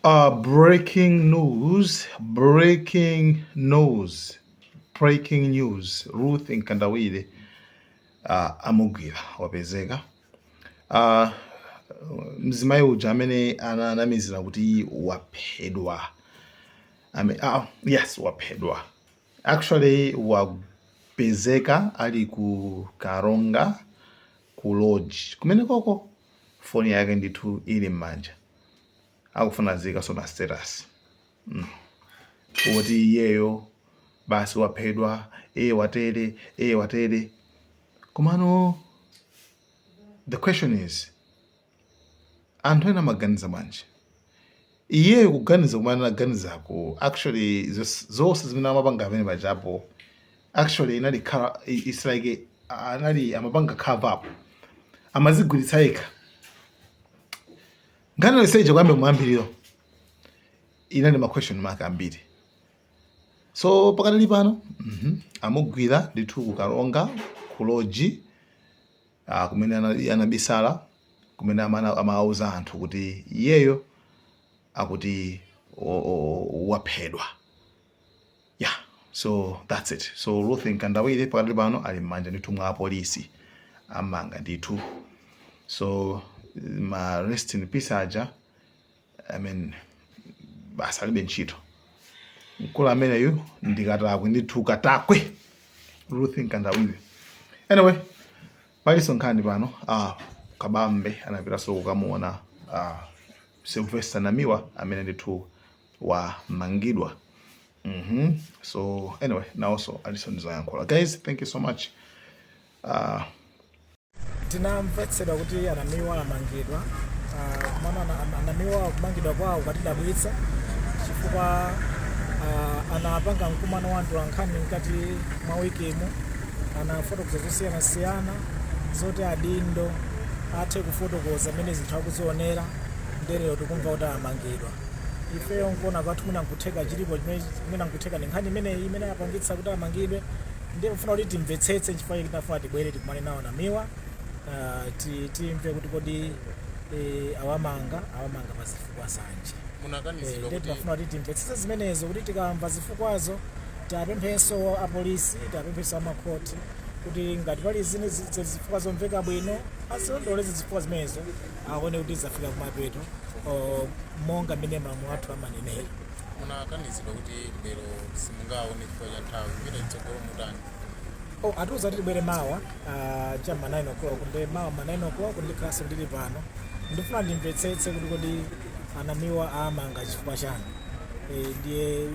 Uh, breaking news, breaking news, breaking news. Ruth Nkandawire uh, amugwira wapezeka. Uh, mzimayi uja amene ananamizira kuti waphedwa. I mean, uh, yes, waphedwa. Actually, wapezeka ali ku Karonga ku lodge kumenekoko foni yake ndithu ili m'manja akufuna aziikaso ma status mm. kuti iyeyo basi waphedwa eye watere eye watere komano the question is Anthu ena amaganiza bwanji? Iyeyo kuganiza kumene anaganizako actually zos- zonse zimene amapanga apa pajapo actually inali cover- i- it's like a- anali amapanga cover up amazigwiritsa yekha nkhani yonseija kuyamba mwambirimo inali ma question mark ambiri so pakadali pano mhm, amugwira ndithu ku Karonga ku lodge ah, kumene anali anabisala kumene amana- amawauza anthu kuti iyeyo akuti o- o- o- waphedwa yeah so that's it so ruth nkandawire pakadali pano ali m'manja ndithu mwa apolisi ammanga ndithu so ma rest in peace aja I mean basi alibe ntchito mkulu ameneyu ndikatakwe ndithu katakwe Ruth Nkandawire anyway paliso nkhani pano uh, kabambe anapitaso kukamuona uh, ah, Sylvester Namiwa amene ndithu wamangidwa mm -hmm. so anyway nawonso aliso ndizoyankhula guys thank you so much uh, Tinamvetsedwa kuti anamiwa amangidwa ah, komano ana- ana- anamiwa kumangidwa kwawo kwatidabwitsa chifukwa ah, anapanga mkumano wa atolankhani mkati mwa wikimu anafotokoza zosiyanasiyana zoti adindo athe kufotokoza mmene zinthu akuzionera ndelero tikumva kuti amangidwa ifeyo nkuona kwathu mwina nkutheka chilipo chimene mwina nkutheka ndi nkhani imeneyi imene yapangitsa kuti amangidwe Ndiye mufuna kuti timvetsetse nchifukwa chake tinafuna tibwere tikumane nawo namiwa ah, ti- timve kuti kodi eh, awamanga awamanga pa zifukwa zanji Eh, munakanizidwa ndiye kuti tinafuna kuti timvetsetse zimenezo kuti tikamva zifukwazo tiwapemphenso apolisi tiwapemphenso amakhoti kuti ngati pali zine zi- zi- zifukwa zomveka bwino azilondoloze zifukwa zimenezo aone kuti zafika kumapeto oh, monga mmene malamulo athu amanenera munakanizidwa kuti lero simungaone chifukwa cha nthawi kupita chitsogolo mutani Oh, atiuza kuti tibwere mawa ah, cha ma 9 o'clock nde mawa ma 9 o'clock ndikhalanso ndili pano ndifuna ndimvetsetse kuti kodi anamiwa amanga chifukwa chani Eh, ndiye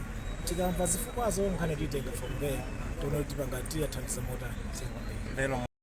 tikamva zifukwazo nkhani tiitenga from there tione kuti tipanga tiwathandiza motani zikomo kwambiri lero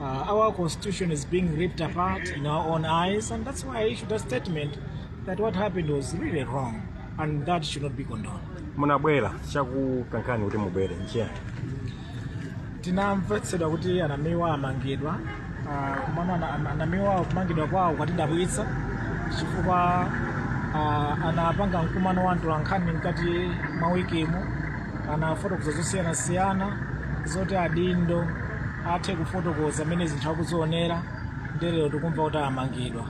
Uh, our constitution is being ripped apart in our own eyes, and that's why I issued a statement that what happened was really wrong, and that should not be condoned. munabwera chakukankhani kuti mubwere nchiyani tinamvetsedwa kuti anamiwa amangidwa ah, komano ana- ana- anamiwa kumangidwa kwawo kwatidabwitsa chifukwa ah, anapanga mkumano wa atolankhani mkati mwa wikimu anafotokoza zosiyanasiyana zoti adindo athe kufotokoza mmene zinthu akuzionera nde lero tikumva kuti amangidwa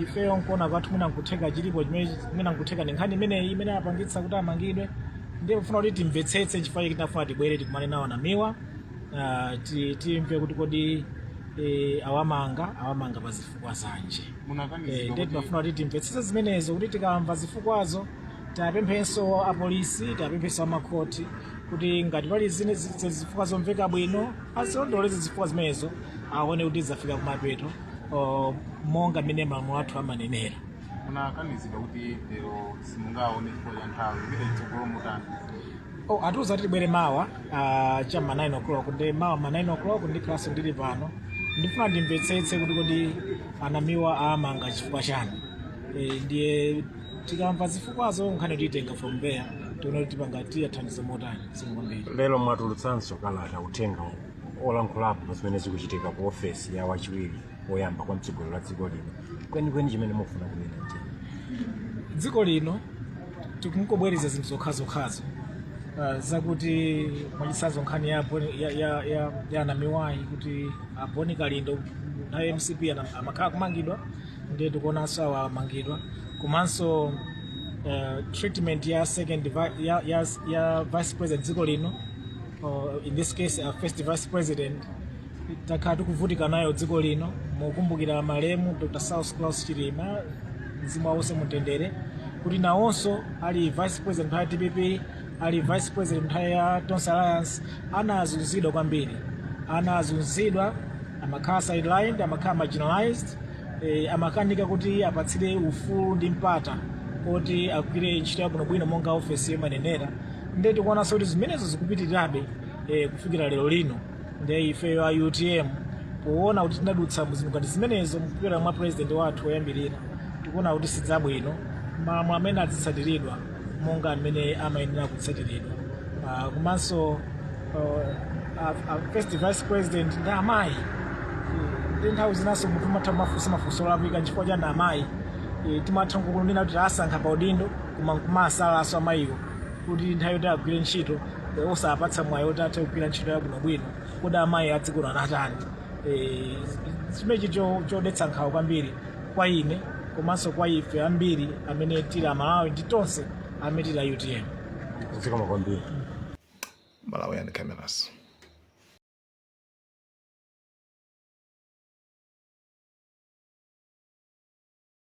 ifeyo nkuona kwathu mwina nkutheka chilipo chimene mwina nkutheka ndi nkhani imeneyi imene apangitsa kuti amangidwe ndiye kufuna kuti timvetsetse nchifukwa chake tinafuna tibwere tikumane nawo anamiwa ah, ti- timve kuti kodi eh, awamanga awamanga pa zifukwa zanji munakanizidwa Eh, ndiye kuti- tinafuna kuti timvetsetse zimenezo kuti tikamva zifukwazo tapemphenso apolisi tapemphenso amakhoti kuti ngati pali zine zi- zifukwa zomveka bwino azilondoloze zifukwa zimenezo aone kuti zafika kumapeto o, monga mmene malamulo athu amanenera munakanizidwa kuti lero simungaone chifukwa cha nthawi kupita chitsogolo mutani Oh, atiuza kuti tibwere mawa ah, cha ma 9 o'clock nde mawa ma 9 o'clock ndikhalanso ndili pano ndifuna ndimvetsetse kuti kodi anamiwa amanga chifukwa chani Eh, ndiye tikamva zifukwazo nkhani tiitenga from there tione kuti tipanga tiwathandize motani zikomo kwambiri lero mwatulutsanso kalata uthenga olankhulapo pa zimene zikuchitika ku ofesi ya wachiwiri woyamba kwa mtsogoleri wa dziko lino kwenikweni chimene mufuna kunena nchiyani dziko lino tikungobwereza zinthu zokhazokhazo uh, zakuti mwachitsanzo nkhani ya, Boni- ya, ya, ya, ya anamiwayi kuti aboni kalindo nthawi ya mcp ana- amakhala kumangidwa ndiye tikuonanso awa amangidwa komanso uh, treatment ya second vi- ya, ya, ya vice president dziko lino or in this case our first vice president takhala tikuvutika nayo dziko lino mukumbukira malemu dr saulos klaus chilima mzimu wawo uuse mumtendere kuti nawonso ali vice president pa dpp ali vice president nthawi ya tonse alliance anazunzidwa kwambiri anazunzidwa amakhala sidelined amakhala marginalized eh, amakanika kuti apatsidwe ufulu ndi mpata kuti agwire ntchito yabwinobwino monga ofesiyo imanenera nde tikuonanso kuti zimenezo zikupitirirabe eh, kufikira lero lino nde ifeyo a utm poona kuti tinadutsa mu zinthu ngati zimenezo mkupita mwa president wathu woyambirira tikuona kuti si zabwino malamulo amene azitsatiridwa monga amene amayenera kutsatiridwa Ah, komanso uh, a- a first vice president ndi amayi nde nthawi zinanso munthu umatha kumafunsa mafunso olakwika nchifukwa chani amayi E, timatha kunena kuti asankha pa udindo koma nkumasalanso amayiwo kuti nthawi yoti agwire ntchito eh, osawapatsa mwayi oti athe kugwira ntchito yabwinobwino kodi amayi a dziko lino anatani Eh, chimenechi cho- chodetsa nkhawa kwambiri kwa ine komanso kwa ife ambiri amene tili amalawi ndi tonse amene tili a utm zikomo kwambiri Malawi cameras.